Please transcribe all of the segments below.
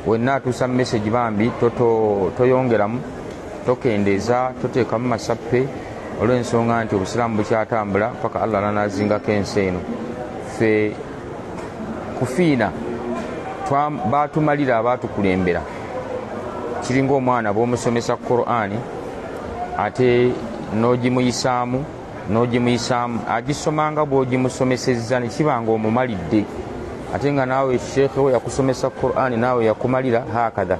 wenna atuusa message bambi toyongeramu tokendeeza toteekamu masappe olw'ensonga nti obusiraamu bukyatambula paka allah nanazingako ensi eno fe kufiina batumalira abatukulembera kiringa omwana bwomusomesa qurani ate nogimuyisaamu n'ogimuyisaamu agisoma nga bw'ogimusomesezza ne kiba nga omumalidde ate nga naawe sheekhe we yakusomesa qurani naawe yakumalira hakadha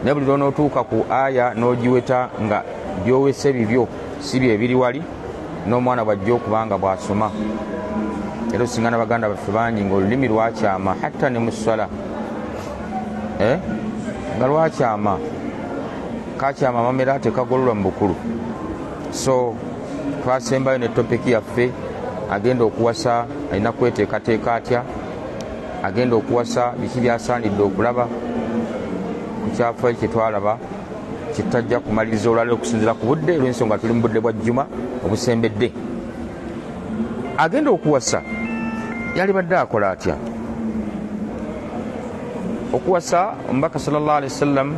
naye buli lwonootuuka ku aya n'ogiweta nga byowese bibyo si bye biri wali n'omwana bwajja okuba nga bw'asoma era osinga na baganda baffe bangi ng'olulimi lwakyama hatta ne mu ssala eh? nga lwakyama kakyama amamera tekagololwa mu bukulu so twasembayo ne topiki yaffe agenda okuwasa alina kweteekateeka atya agenda okuwasa biki byasaanidde okulaba ku kyafayo kyetwalaba kyetajja kumaliriza olwaliro okusinzira ku budde olwensonga tuli mu budde bwa jjuma obusembedde agenda okuwasa yalibadde akola atya okuwasa omubaka sallallah alihi wasallam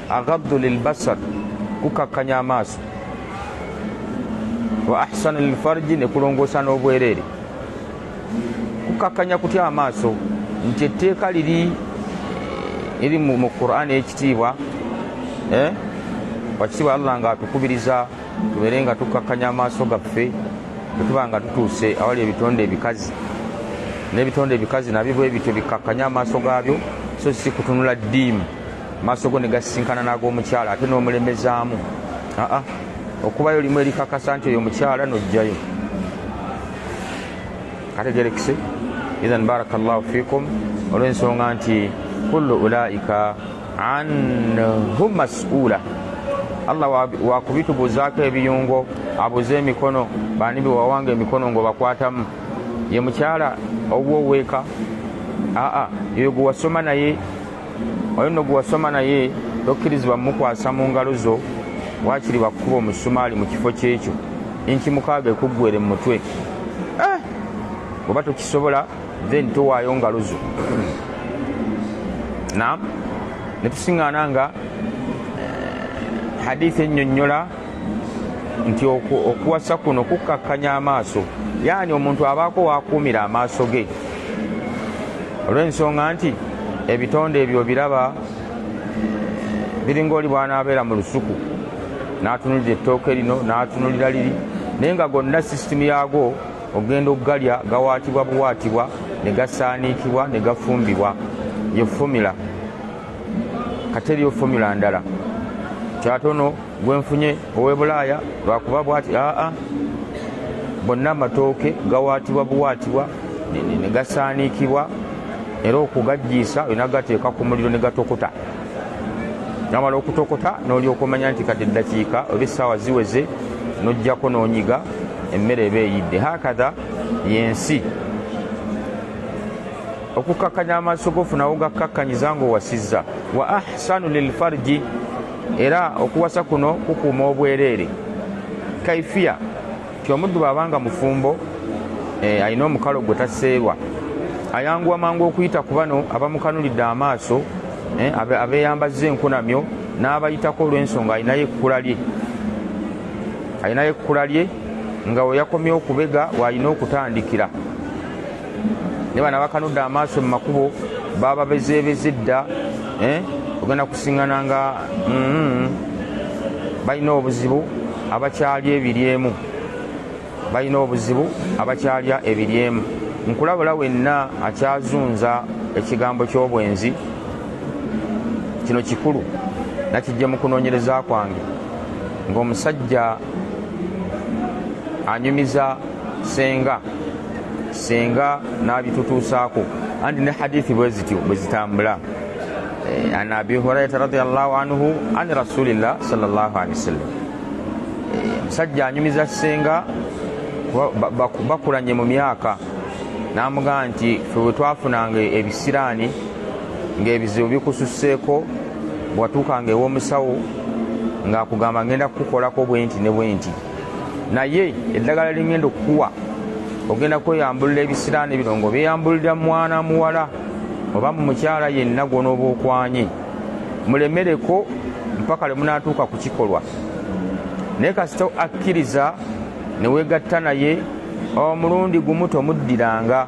agaddu lilbasar kukakkanya amaaso wa ahsanu lilfarji ne kulongoosa n'obwereere kukakkanya kutya amaaso nti etteeka liri eri mu qur'ani ekitiibwa eh? wakitiibwa allah nga atukubiriza tubeere nga tukakkanya amaaso gaffe bwetuba nga tutuuse awali ebitonde ebikazi n'ebitonde ebikazi nabyo bwe bityo bikakkanya amaaso gaabyo so si kutunula ddiimu maaso go ne gasisinkana n'ag'omukyala ate n'omulemezaamu aa okubayo limu erikakasa nti oyo mukyala n'ojjayo kategerekese ithan baraka llahu fikum olw'ensonga nti kullu ulaika anhu masuula allah wakubitubuuzaako ebiyungo abuze emikono baani bewawanga emikono ngaobakwatamu ye mukyala owuwo weeka aa yoyo gwe wasoma naye oyo nno gwewasoma naye tokkirizibwa mukwasa mu ngalo zo wakiri wakukuba omusumaali mu kifo kyekyo inki mukaaga ekuggwere mu mutwe eh! oba tokisobola then towaayo ngalo zo nam netusiŋŋaana nga eh, hadithi ennyonnyola nti okuwasa kuno kukkakkanya amaaso yaani omuntu abaako wakuumira amaaso ge olw'ensonga nti ebitonde ebyo biraba biringa oli bwanaabeera mu lusuku n'atunulira ettooke lino n'atunulira liri naye nga gonna sisitimu yaago ogenda okugalya gawaatibwa buwaatibwa ne gasaaniikibwa ne gafumbibwa ye fomula kateriyo fomula ndala kyatono gwenfunye owebulaaya lwakuba bwati aa bonna amatooke gawaatibwa buwaatibwa negasaaniikibwa era okugajjiisa olina gateeka ku muliro ne gatokota namala okutokota nolyoka omanya nti kati eddakiika oba essaawa ziweze nojjako nonyiga emmere eba eyidde hakatha yensi okukkakkanya amaaso gofuna wogakkakkanyiza ng'owasizza wa ahsanu lilfarji era okuwasa kuno kukuuma obwereere kaifiya ti omuddu bwabanga mufumbo eh, alina omukalo gwe taseerwa ayanguwa mangu okuyita ku bano abamukanulidde amaaso eh, abeeyambazza enkunamyo n'abayitako olw'ensonga alinayo ekkula lye alinayo ekkula lye nga weyakomye okubega waalina okutandikira ne bana bakanudde amaaso mu makubo baba bezeebeze dda eh? ogenda kusiŋana nga mm-hmm. balina obuzibu abakyalya ebiryemu balina obuzibu abakyalya ebiryemu nkulabula wenna akyazunza ekigambo ky'obwenzi kino kikulu nakijja mu kunoonyereza kwange ng'omusajja anyumiza senga senga n'abitutuusaako anti ne hadithi bwe zityo bwe zitambula eh, an abi hurairata radiallahu anhu an rasulillah salllahu alehi wasallam eh, omusajja anyumiza senga bakulanye mu myaka n'amugamba nti fe bwe twafunanga ebisiraani ng'ebizibu bikususseeko bwatuukanga ew'omusawo ng'akugamba ngenda kukukolako bwenti ne bwenti naye eddagala lingenda okukuwa ogenda kweyambulula ebisiraani bino ngaobyeyambulira mwana muwala oba mu mukyala yenna gwonooba okwanye mulemereko mpaka lwe munaatuuka ku kikolwa naye kasita akkiriza ne weegatta naye omulundi gumu tomuddiranga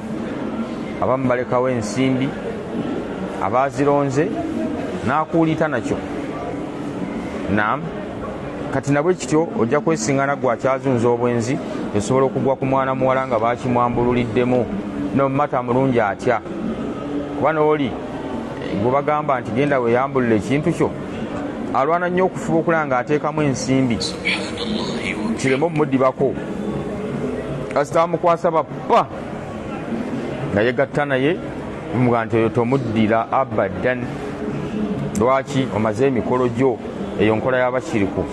abamu balekawo ensimbi abaazironze n'akuuliita nakyo nam kati nabwe kityo ojja kwesingana gwe akyazunza obwenzi esobola okugwa ku mwana muwala nga bakimwambululiddemu nomumata mulungi atya kuba nooli gwebagamba nti genda weyambulula ekintu kyo alwana nnyo okufuba okulaba nga ateekamu ensimbi kireme omudibako kasita amukwasa Wa! Nga yegatta naye mumuga nti oyo tomuddira abadan. Lwaki omaze emikolo gyo eyo nkola y'abashiriku.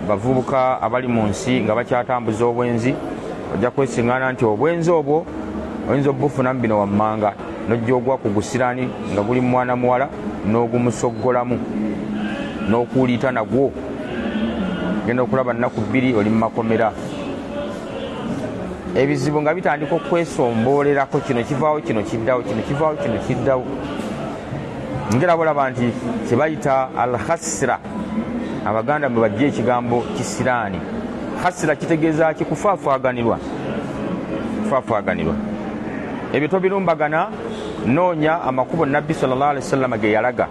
Bavubuka abali mu nsi nga bakyatambuza obwenzi ojja kwesingana nti obwenzi obwo oyinza obufunamu bino wammanga nojja ogwa ku gusirani nga guli mwana muwala n'ogumusoggolamu n'okuuliita nagwo. genda okulaba nnaku bbiri oli mu makomera ebizibu nga bitandika okwesombolerako kino kivaawo kino kiddawo kino kivaawo kino kiddawo ngera bolaba nti kyebayita al khasira abaganda mwe bajja ekigambo kisiraani khasira kitegeeza ki kufaafaganirwa kufaafaganirwa ebyo tobirumbagana noonya amakubo nabbi sallallah alihi wasallama ge yalaga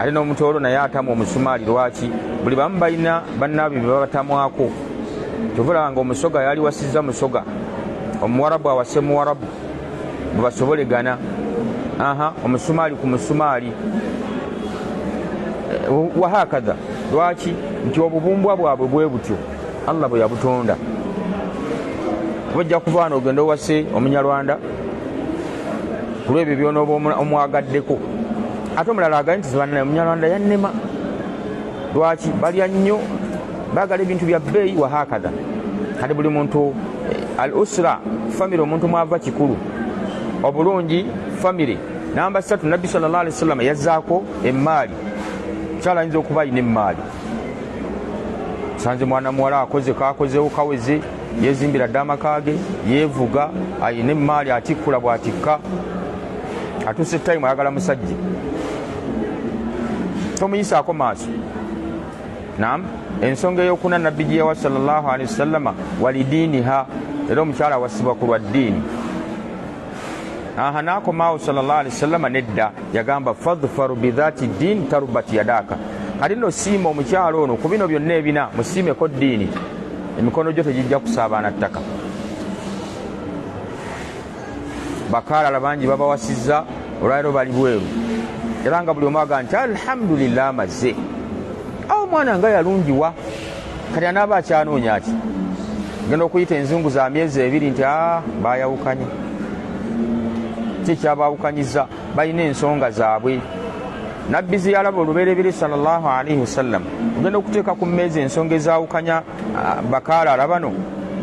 ate n'omutoolo naye atamwa omusumaali lwaki buli bamu balina bannaabwe bebabatamwako kyovulaba nga omusoga yali wasizza musoga omuwarabu awase muwarabu bwebasobolegana aha omusumaali ku musumaali wahakadha lwaki nti obubumbwa bwabwe bwe butyo allah bwe yabutonda bajja kuvaana ogenda owase omunyarwanda kulwebyo byonooba omwagaddeko ate omulala agambye nti zibanna omunyarwanda yannema lwaki balya nnyo bagala ebintu bya bbeeyi wahakadha kati buli muntu eh, al usra famiry omuntu mwava kikulu obulungi famiry namba satu nabbi salllah alihi wasallama yazzaako emmaali mukyala ayinza okuba alina emmaali sanze mwana muwala akoze kakozewo kaweze yezimbira dda amaka ge yeevuga alina emmaali atikkula bwatikka atuse time ayagala musajja tomuyisaako maaso nam ensonga eyokuna nabbi gyeyawa salllahalihi wasallama walidiiniha era omukyala awasibwa ku lwa ddiini aha nakomaawo salllahalihi wasallama nedda yagamba fadfaru bidhati ddiini tarubat yadaaka kati no siima omukyala ono ku bino byonna ebina musiimeko ddiini emikono gyo tegijja kusaabaana ttaka bakaalala bangi babawasizza olwaliro bali bweru era nga buli omu aga nti alhamdulillah amazze awo omwana nga yalungiwa kati anaaba akyanoonya ati genda okuyita enzungu za myezi ebiri nti a ah, bayawukanye kyekyabawukanyiza balina ensonga zaabwe nabbi zeyalaba olubereberye salllah alaihi wasallam ogenda okuteeka ku mmeezi ensonga ezawukanya Ah, bakaala alabano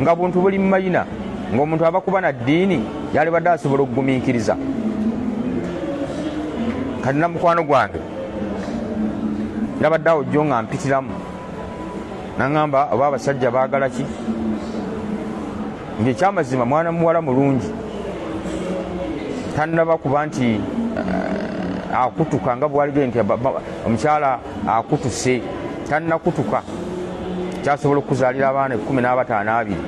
nga buntu buli mumayina ngaomuntu abakuba na ddiini yalibadde asobola okugumiikiriza kati namukwano gwange nabadde awo jjo nga mpitiramu naŋamba oba abasajja baagala ki ngaekyamazima mwana muwala mulungi tanaba kuba nti eh, akutuka nga bwalige nti omukyala akutuse tannakutuka kyasobola okukuzaalira abaana ekkumi n'abataano abiri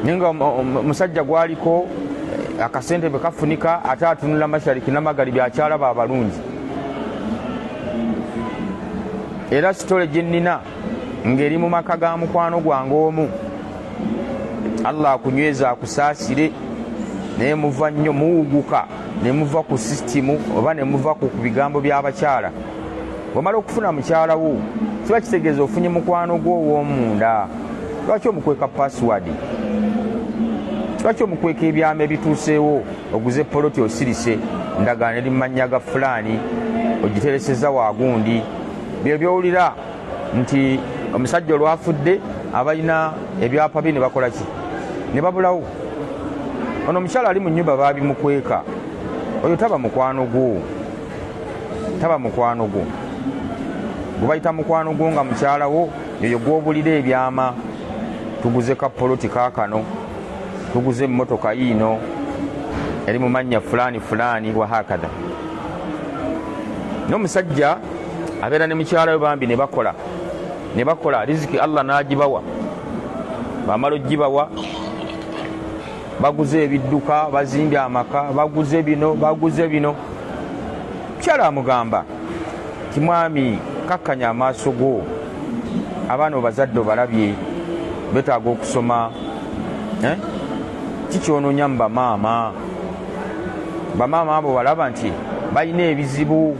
naye nga omusajja gwaliko eh, akasente bwe kafunika ate atunula mashariki namagali byakyalaba abalungi era sitole gye nnina ng'eri mu maka ga mukwano gwange omu allah akunyweza akusaasire naye muva nnyo muwuguka ne muva ku sisitimu oba ne muva ku bigambo by'abakyala wamala okufuna mukyala wo kiba kitegeeza ofunye mukwano gwo ow'omunda lwaki omukweka pasiwadi lwaki omukweka ebyama ebituuseewo oguze poloti osirise ndagaano eri mu mannya ga fulaani ogitereseza waagundi byo byowulira nti omusajja olwafudde abalina ebyapa bye ne bakola ki ne babulawo ono omukyala ali mu nyumba baabimukweka oyo taba mukwano gwo taba mukwano gwo gwebayita mukwano gwo nga mukyala wo yoyo gwobulira ebyama tuguze ka poloti kakano tuguze emmotoka yiino eri mu mannya fulaani fulaani wahakadha n'omusajja abeera ne mukyala we bambi ne bakola ne bakola riziki allah n'agibawa bamala ogibawa baguze ebidduka bazimbye amaka baguze bino baguze bino mukyala amugamba ti mwami kakkanya amaaso go abaana obazadde obalabye betaaga okusoma eh? ki kyononya mu bamaama bamaama abo walaba nti balina ebizibu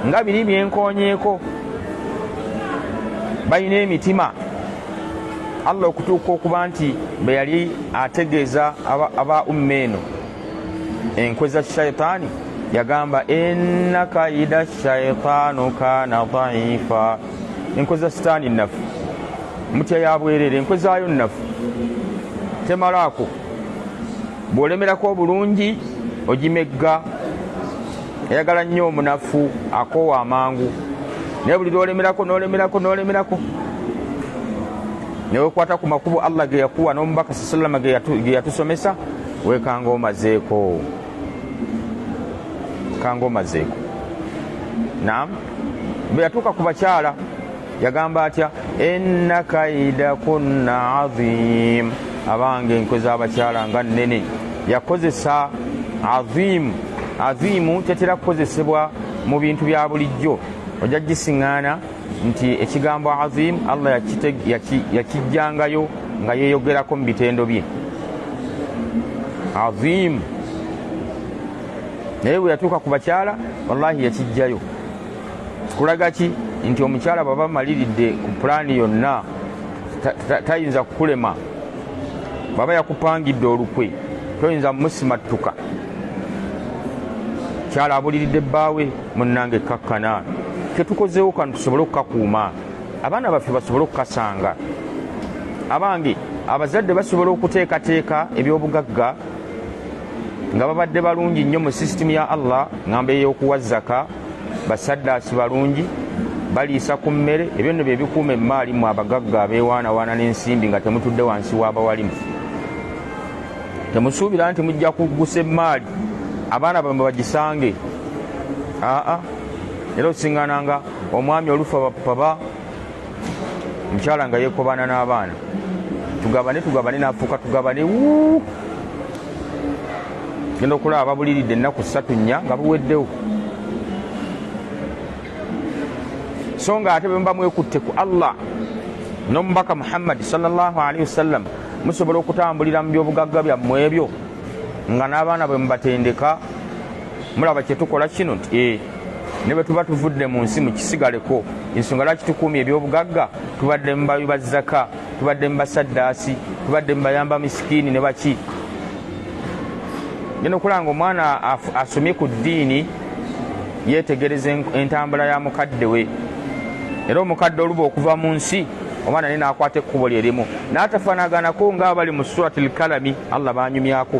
nga biri byenkonyeeko balina emitima allah okutuuka okuba nti bwe yali ategeeza aba umma eno enkwe za shaitaani yagamba enakaida shaitaanu kana daifa enkwe za sitaani nnafu mutya ya bwereere enkwe zaayo nnafu temalaako bw'olemerako obulungi ogimegga eyagala nnyo omunafu akoowa amangu naye buli lwolemerako nolemerako nolemerako newekwata ku makubo allah ge yakuwa n'omubaka sa salama ge yatusomesa wekanga omazeeko kanga omazeeko nam bwe yatuuka ku bakyala yagamba atya inna kaida kunna azim abange enkwe z'abakyala nga nnene yakozesa azimu azimu tetera kukozesebwa mu bintu bya bulijjo ojja gisiŋŋaana nti ekigambo azim allah yakijjangayo nga yeeyogerako mu bitendo bye azimu naye bwe yatuuka ku bakyala wallahi yakijjayo kulaga ki nti omukyala bwaba amaliridde ku pulaani yonna tayinza kukulema bwaba yakupangidde olukwe toyinza musimattuka kyala abuliridde bbaawe munnange kakkana ketukozeewo kano tusobole okukakuuma abaana baffe basobole okukasanga abange abazadde basobola okuteekateeka ebyobugagga nga babadde balungi nnyo mu sisitimu ya allah ngamba ey'okuwa zaka basaddaasi balungi baliisa ku mmere ebyo nno bye bikuuma emmaali mu abagagga abeewaanawaana n'ensimbi nga temutudde wansi w'abawalimu temusuubira nti mujja kuggusa emmaali abaana bamwe bagisange aa era osingananga omwami olufa bapaba omukyala nga yekobaana n'abaana tugabane tugabane nafuuka tugabane wu genda okulaba babuliridde ennaku ssatu nnya nga buweddewo so nga ate bwemuba mwekutte ku allah n'omubaka muhammadi salllahalihi wasallam musobola okutambulira mu byobugagga byammwe ebyo nga n'abaana bwe mubatendeka mulaba kyetukola kino nti eh, ne bwe tuba tuvudde mu nsi mukisigaleko ensonga lwaki tukuumya ebyobugagga tubadde mu bawi ba zaka tubadde mu basaddaasi tubadde mu bayamba misikiini ne baki genda okulanga omwana asomye ku ddiini yeetegereza entambula ya mukadde we era omukadde oluba okuva mu nsi omwana naye naakwata ekkubo lye limu n'atafaanaganako ng'abali mu surati lkalami allah baanyumyako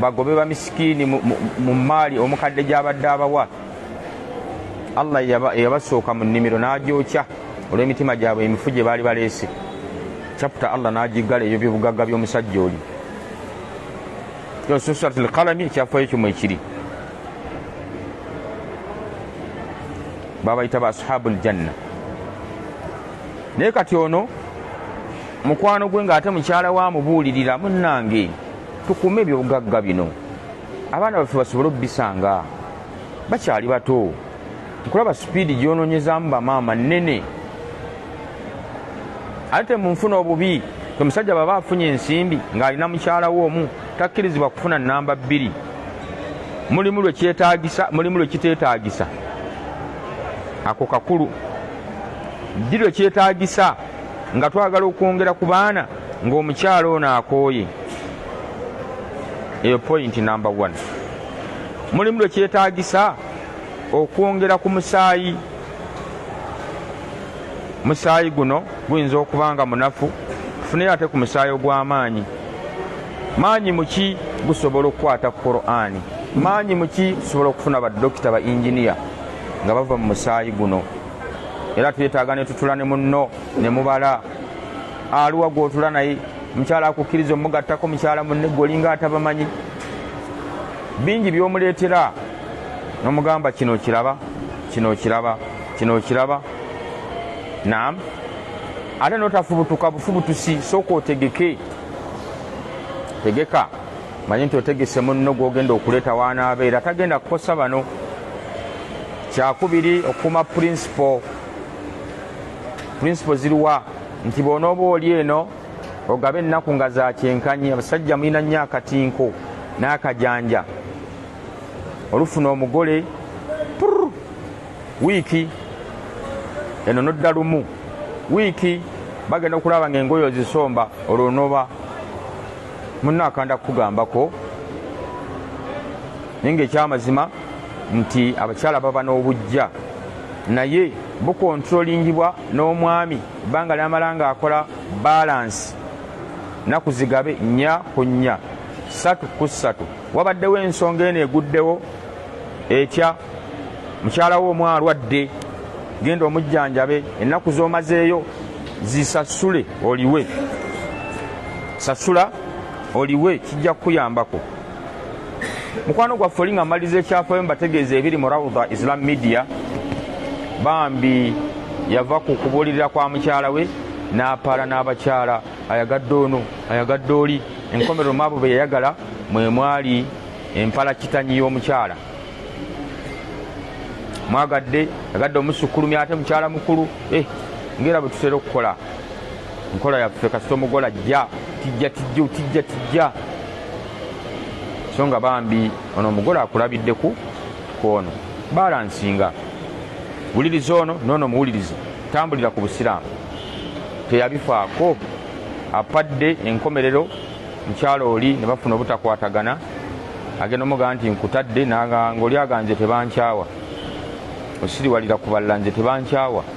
bagobe bamisikiini mu maali omukadde gy'abadde abawa allah eyabasooka mu nnimiro n'agyokya olw'emitima gyabwe emifu gye baali baleese caputa allah n'agiggala ebyo byobugagga by'omusajja oli yosusulat lkalami ekyafayo kyomu ekiri babayita ba ashabu ljanna naye kati ono mukwano gwe ng'ate mukyala wa mubuulirira munnange Tukuume ebyobugagga bino abaana baffe basobole okubisanga bakyali bato nkulaba sipiidi gyononyezamu bamaama nnene ate munfuna obubi omusajja baba afunye ensimbi ng'alina mukyalawo omu takkirizibwa kufuna namba bbiri mulimu lwekyetagisa mulimu lwekitetagisa ako kakulu ddi lwekyetagisa nga twagala okwongera ku baana ng'omukyala ono akooye eyo point number one mulimu lwe kyetaagisa okwongera ku musaayi musaayi guno guyinza okuba nga munafu tufuneyo ate ku musaayi ogw'amaanyi maanyi muki gusobola okukwata ku qur'ani maanyi muki tusobola okufuna badokita ba inginiya nga bava mu musaayi guno era twetaaga ne tutula ne munno ne mubala aluwa gwotula naye mukyala akukkiriza omugattako mukyala munne gwe olinga atabamanyi bingi byomuleetera nomugamba kino kiraba kino kiraba kino kiraba nam ate notafubutuka bufubutusi sooka otegeke tegeka manyi nti otegese munno gwogenda okuleeta wanaabeera tagenda kukosa bano kyakubiri okukuuma purinsipo principle ziriwa nti bwonooba oli eno ogaba ennaku nga za kyenkanyi abasajja mulina nnyo akatinko n'akajanja olufuna omugole wiiki eno nodda lumu wiiki bagenda okulaba nga engoyo ozisomba olwo noba munna akanda kukugambako naye ngaekyamazima nti abakyala baba n'obujja naye bukontrolingibwa n'omwami ebbanga lyamala ng'akola baalansi nnaku zigabe nnya ku nnya ssatu ku ssatu wabaddewo ensonga eno eguddewo etya mukyala wo omu alwadde genda omujjanjabe ennaku z'omazeeyo zisasule oliwe sasula oliwe kijja kukuyambako mukwano gwaffe oli nga maliza ekyafayo mbategeeza ebiri mu raudha islam media bambi yava ku kubuulirira kwa mukyala we n'apaala n'abakyala ayagadde ono ayagadde oli enkomerero maabo be yayagala mwe mwali empala kitanyi y'omukyala mwagadde agadde omusukkulumi ate mukyala mukulu eh, ngaera bwe tutera okukola nkola yaffe kasita omugola jja tijja tijja tijja tijja so nga bambi ono omugole akulabidde ku kwono balansinga wuliriza ono noono muwulirize tambulira ku busiraamu teyabifaako apadde enkomerero mukyalo oli ne bafuna obutakwatagana agenda omugaa nti nkutadde nanga ngaoli aganze tebankyawa osiriwalira kubalala nze tebankyawa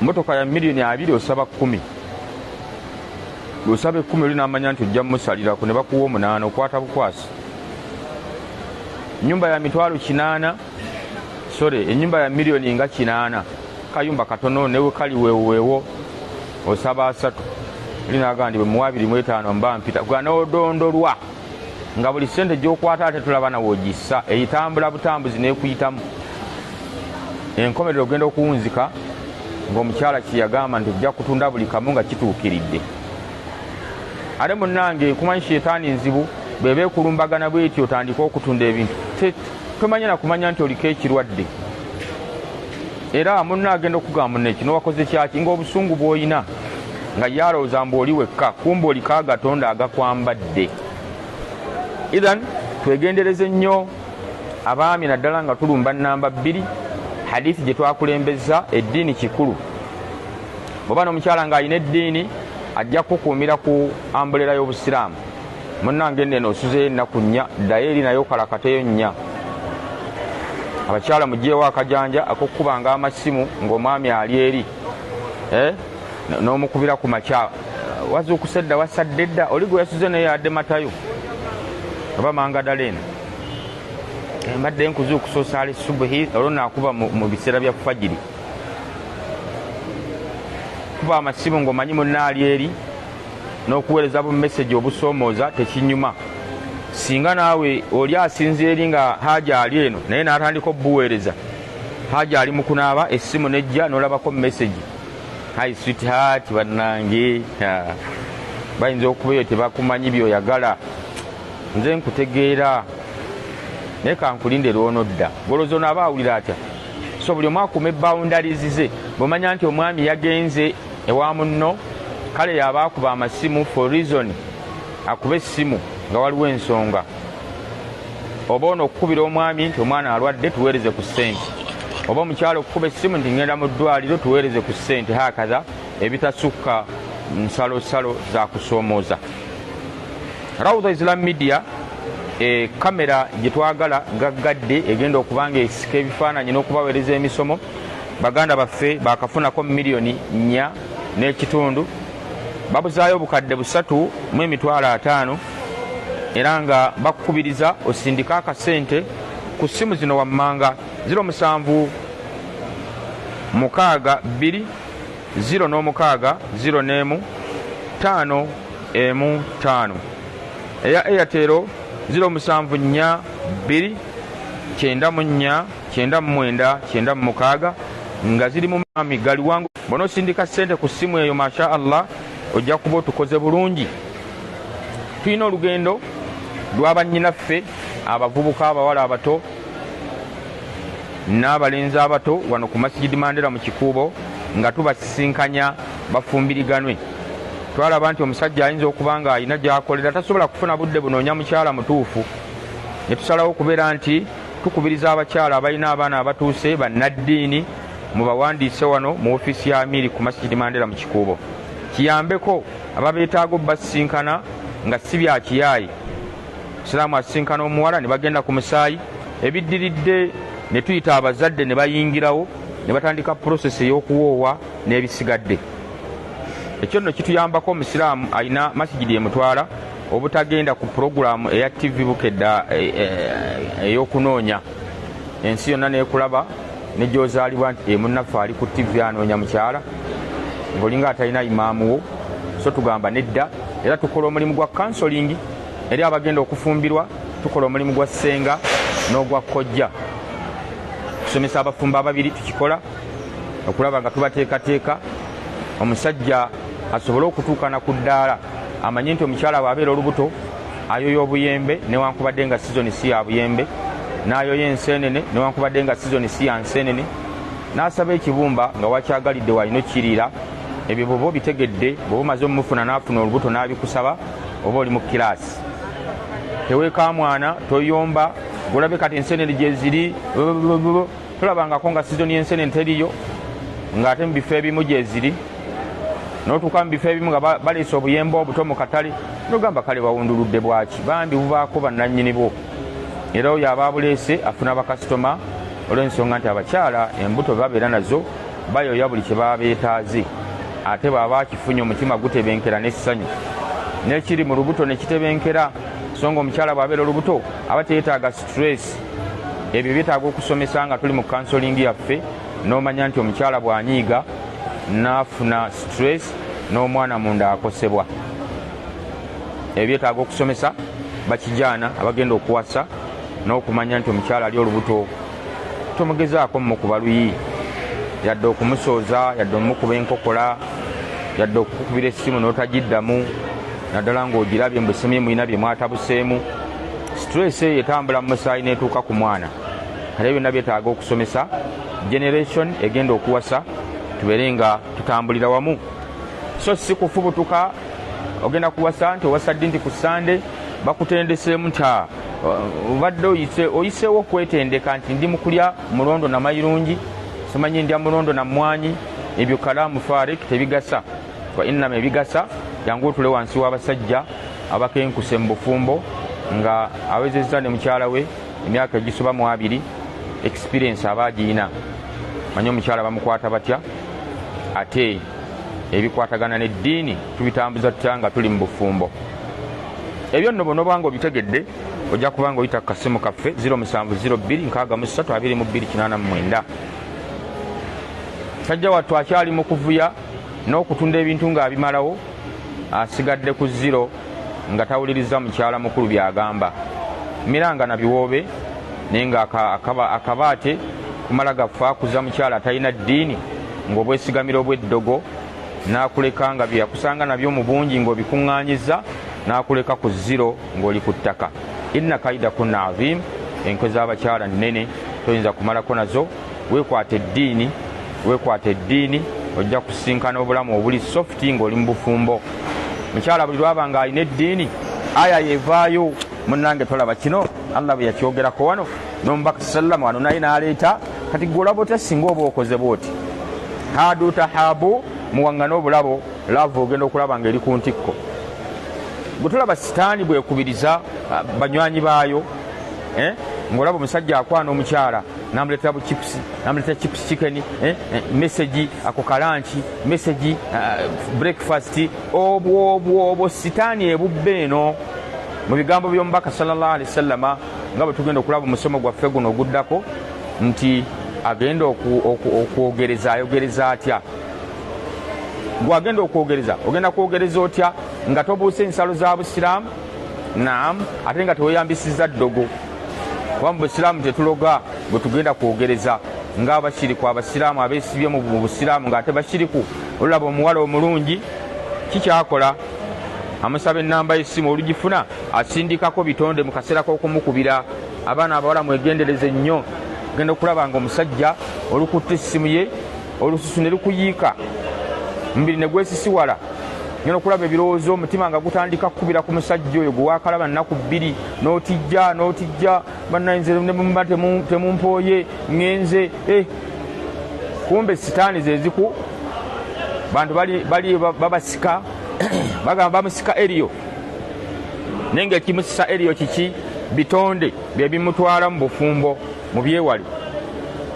motoka ya miliyoni abiri osaba kumi osaba ekumi oli namanya nti ojja musalirako ne bakuwa omunaana okwata bukwasi nyumba ya mitwalo kinaana sore enyumba ya miliyoni nga kinaana kayumba katono newe kali wewewo osaba asatu oli naga ndi bwemuwa abiri mwetaano mba mpita gwanodondolwa nga buli sente gyokwata ate tulaba nawe ogissa eyitambula butambuzi nekuyitamu enkomerero ogenda okuwunzika ngaomukyala kyeyagamba nti ojja kutunda buli kamu nga kituukiridde ate munange kumanyi shetaani nzibu bweba ekulumbagana bweti otandika okutunda ebintu tomanya nakumanya nti oliko ekirwadde era munna agenda okugamba neki nowakoze kyaki ngaobusungu bwoyina nga ye alowooza mbu oli wekka kumba oliko agatonda agakwambadde ithan twegendereze nnyo abaami naddala nga tulumba namba bbiri hadithi gye twakulembeza eddiini kikulu bweoba nomukyala ng'alina eddiini ajja kukuumira ku ambulera y'obusiraamu munange neno osuzeyo ennaku nnya ddayo eri naye okalakateyo nnya abakyala mugyewo akajanja akokukubanga amasimu ng'omwami ali eri eh? n'omukubira ku makya wazuukuse dda wasadde dda oli gwe yasuze naye yadde matayo oba mangadala eno eh, mbadde nkuzuukusa osaala esubuhi olwo nakuba mu biseera bya fajiri kuba amasimu ng'omanyi munaali eri n'okuweereza bu mesegi obusoomooza tekinyuma singa naawe oli asinza eri nga haja ali eno naye n'atandika obubuweereza haja ali mu kunaaba essimu nejja n'olabako mesegi hi sweetheart bannange ah, bayinza okuba eyo tebakumanyi byoyagala nze nkutegeera naye kankulinde lwonodda golozi ono aba awulira atya so buli omu akume boundaries ze bwemanya nti omwami yagenze ewa munno kale yaba akuba amasimu for reason akuba essimu nga waliwo ensonga oba ono okukubira omwami nti omwana alwadde tuweereze ku ssente oba omukyalo okukuba essimu nti ngenda mu ddwaliro tuweereze ku ssente hakatha ebitasukka nsalosalo zakusoomooza raudha islam media e, kamera gye twagala gaggadde egenda okuba nga esika ebifaananyi n'okubaweereza emisomo baganda baffe bakafunako miliyoni nnya n'ekitundu babuzaayo obukadde busatu mu emitwalo ataano era nga bakukubiriza osindika akasente ku ssimu zino wammanga 07 mukaaga bbiri 0 n'omukaaga 0 n'emu 5 emu 5 eya eyatero 07 nnya bbiri kyenda mu nnya kyenda mu mwenda kyenda mu mukaaga nga ziri mu maami galiwango bona osindika ssente ku ssimu eyo masha allah ojja kuba otukoze bulungi Tulina olugendo lwa bannyinaffe abavubuka abawala abato n'abalenzi abato wano ku masigidi Mandela mu Kikuubo nga tubasisinkanya bafumbiriganwe. Twalaba nti omusajja ayinza okuba ng'alina gy'akolera tasobola kufuna budde bunoonya mukyala mutuufu ne tusalawo okubeera nti tukubiriza abakyala abalina abaana abatuuse bannaddiini mubawandiise wano mu ofiisi ya Amiiri ku masigidi Mandela mu Kikuubo kiyambeko ababeetaaga obbasisinkana nga si bya kiyaaye siraamu asisinkana omuwala ne bagenda ku musaayi ebiddiridde ne tuyita abazadde ne bayingirawo ne batandika purosesi ey'okuwoowa n'ebisigadde ekyo nno kituyambako omusiraamu alina masigidi emutwala obutagenda ku pulogulaamu eya ttivi bukedda eh, eh, ey'okunoonya ensi yonna n'ekulaba ne gyozaalibwa nti e munnaffe ali ku ttivi anoonya mukyala ng'olinga atalina imaamu wo so tugamba nedda era tukola omulimu gwa kansolingi eri abagenda okufumbirwa tukola omulimu gwa ssenga n'ogwa kkojja tusomesa abafumbo ababiri tukikola okulaba nga tubateekateeka omusajja asobole okutuukana ku ddaala amanye nti omukyala bw'abeera olubuto ayoya obuyembe newankubadde nga sizoni si ya buyembe n'ayoya enseenene newankubadde nga sizoni si ya nseenene n'asaba ekibumba nga wakyagalidde walina okukiriira ebyo bwoba obitegedde bwoba omaze omumufuna n'afuna olubuto n'abikusaba oba oli mu kiraasi teweekamwana toyomba gulabe kati enseenene gyeziri tulabangako nga sizoni y'ensenene teriyo ng'ate mu bifo ebimu gyeziri notuuka mu bifo ebimu nga baleese obuyemba obuto mu katale nogamba kale bawunduludde bwaki bambi bubaako bannannyini bwo era oyo aba abuleese afuna bakasitoma olw'ensonga nti abakyala embuto babeera nazo bayoya buli kye baba beetaaze ate bwaba akifunye omutima gutebenkera n'essanyu n'ekiri mu lubuto ne kitebenkera so nga omukyala bw'abeera olubuto aba teyetaaga stress ebyo byetaaga okusomesa nga tuli mu kansolingi yaffe n'omanya nti omukyala bw'anyiiga n'afuna stress n'omwana munda akosebwa ebyo byetaaga okusomesa bakijaana abagenda okuwasa n'okumanya nti omukyala ali olubuto tomugezaako mumukuba luyi yadde okumusooza yadde omumukuba enkokola yadde okukukubira essimu n'otagiddamu naddala ng'ogirabye mbusemye mulina bye mwatabuseemu stress eyo etambula mu musaayi netuuka ku mwana era byonna byetaaga okusomesa generation egenda okuwasa tubeere nga tutambulira wamu so si kufubutuka ogenda kuwasa nti owasa ddi nti ku sande bakutendeseemu nti ah, obadde oyiseewo okwetendeka nti ndi mukulya mulondo namayirungi simanyi ndya mulondo na mmwanyi ebyo kalaamu farik tebigasa wa innama ebigasa jangu otule wansi w'abasajja abakenkuse mu bufumbo nga awezezza ne mukyala we emyaka egisoba mu abiri experience aba agiyina manye omukyala bamukwata batya ate ebikwatagana n'eddiini tubitambuza tutya nga tuli mu bufumbo ebyo nno bonoba nga obitegedde ojja kuba nga oyita ku kasimu kaffe 07026229 sajja wattu akyali mu kuvuya n'okutunda ebintu ng'abimalawo asigadde ku ziro nga tawuliriza mukyala mukulu by'agamba miranga na biwoobe naye nga akabaate kumala gaffe akuza mukyala atalina ddiini ng'obwesigamira obw'eddogo n'akuleka nga bye yakusanga nabyo mu bungi ng'obikuŋŋaanyiza n'akuleka ku ziro ng'oli ku ttaka inna kaida kunna aziimu enkwe z'abakyala nnene toyinza kumalako nazo wekwata eddiini wekwata eddiini ojja kusinkana obulamu obuli softi ngaoli mu bufumbo mukyala buli lwaba nga alina eddiini aya yevaayo munange tolaba kino allah bwe yakyogerako wano nomubaka salam wano naye naleeta kati gwe olaba otya singa oba okoze bwoti hadu tahabu muwangane obulabo lava ogenda okulaba nga eri ku ntikko gwe tolaba sitaani bwekubiriza ah, banywanyi baayo eh? ngaolaba omusajja akwana omukyala namuletera bu chips namuletera chips chicken eh, eh, message ako kalanki message uh, breakfast obwo obwo obwo sitaani ebubbe eno mu bigambo by'omubaka sallallahu alaihi wasallama nga bwe tugenda okulaba omusomo gwaffe guno oguddako nti agenda okwogereza ayogereza atya gwagenda okwogereza ogenda kwogereza otya nga tobuuse ensalo za busiraamu naamu ate nga teweyambisiza ddogo kuba mu busiraamu tetuloga bwe tugenda kwogereza ng'abashiriku abasiraamu abeesibye mu busiraamu ng'ate bashiriku olulaba omuwala omulungi kikyakola amusaba ennamba y'essimu olugifuna asindikako bitonde mu kaseera k'okumukubira abaana abawala mwegendereze nnyo genda okulaba nga omusajja olukutte essimu ye olususu ne lukuyiika omubiri ne gwesisiwala nyo nokulaba ebirowoozo omutima nga gutandika kukubira ku musajja oyo gwe waakalaba nnaku bbiri n'otijja n'otijja bannayinze ne muba temumpooye ŋenze eh. kumbe sitaani ze ziku bantu bali babasika bagamba bamusika eriyo naye ngaekimusisa eriyo kiki bitonde bye bimutwala mu bufumbo mubyewale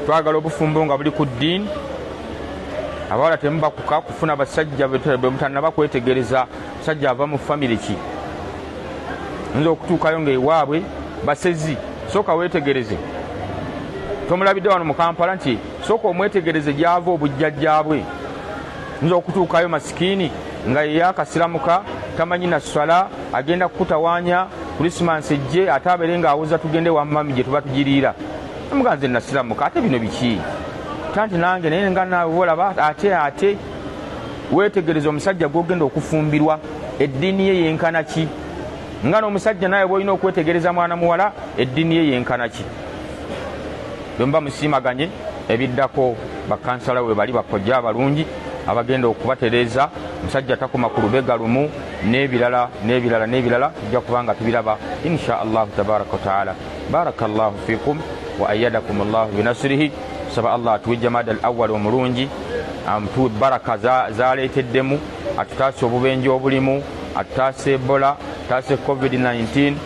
twagala obufumbo nga buli ku ddiini abawala temubakuka kufuna basajja bemutanaba kwetegereza musajja ava mu famiry ki nza okutuukayo nga ewaabwe basezi sooka wetegereze tomulabidde wano mu kampala nti sooka omwetegereze gyava obujjajjabwe nza okutuukayo masikiini nga yeyakasiramuka tamanyi na swala agenda kukutawanya kulisimansi ejje ate abeere ng'awuza tugende wa mami gye tuba tugiriira muga nze nasiramuka ate bino biki tanti nange naye nga naawe olaba ate ate weetegereza omusajja gwogenda okufumbirwa eddiini ye yenkana ki nga n'omusajja naawe bwolina okwetegereza mwana muwala eddiini ye yenkana ki Bwemuba musiimaganye ebiddako bakansala webali bakojja abalungi abagenda okubatereeza musajja takoma ku lubega lumu n'ebirala n'ebirala n'ebirala tujja kuba nga tubiraba insha allahu tabaraka wataala baraka llahu fikum wa ayadakum llahu binasirihi saba allah atuwe jamada al awali omulungi amutuwe baraka zaleeteddemu atutaase obubenje obulimu atutaase ebola atutaase covid-19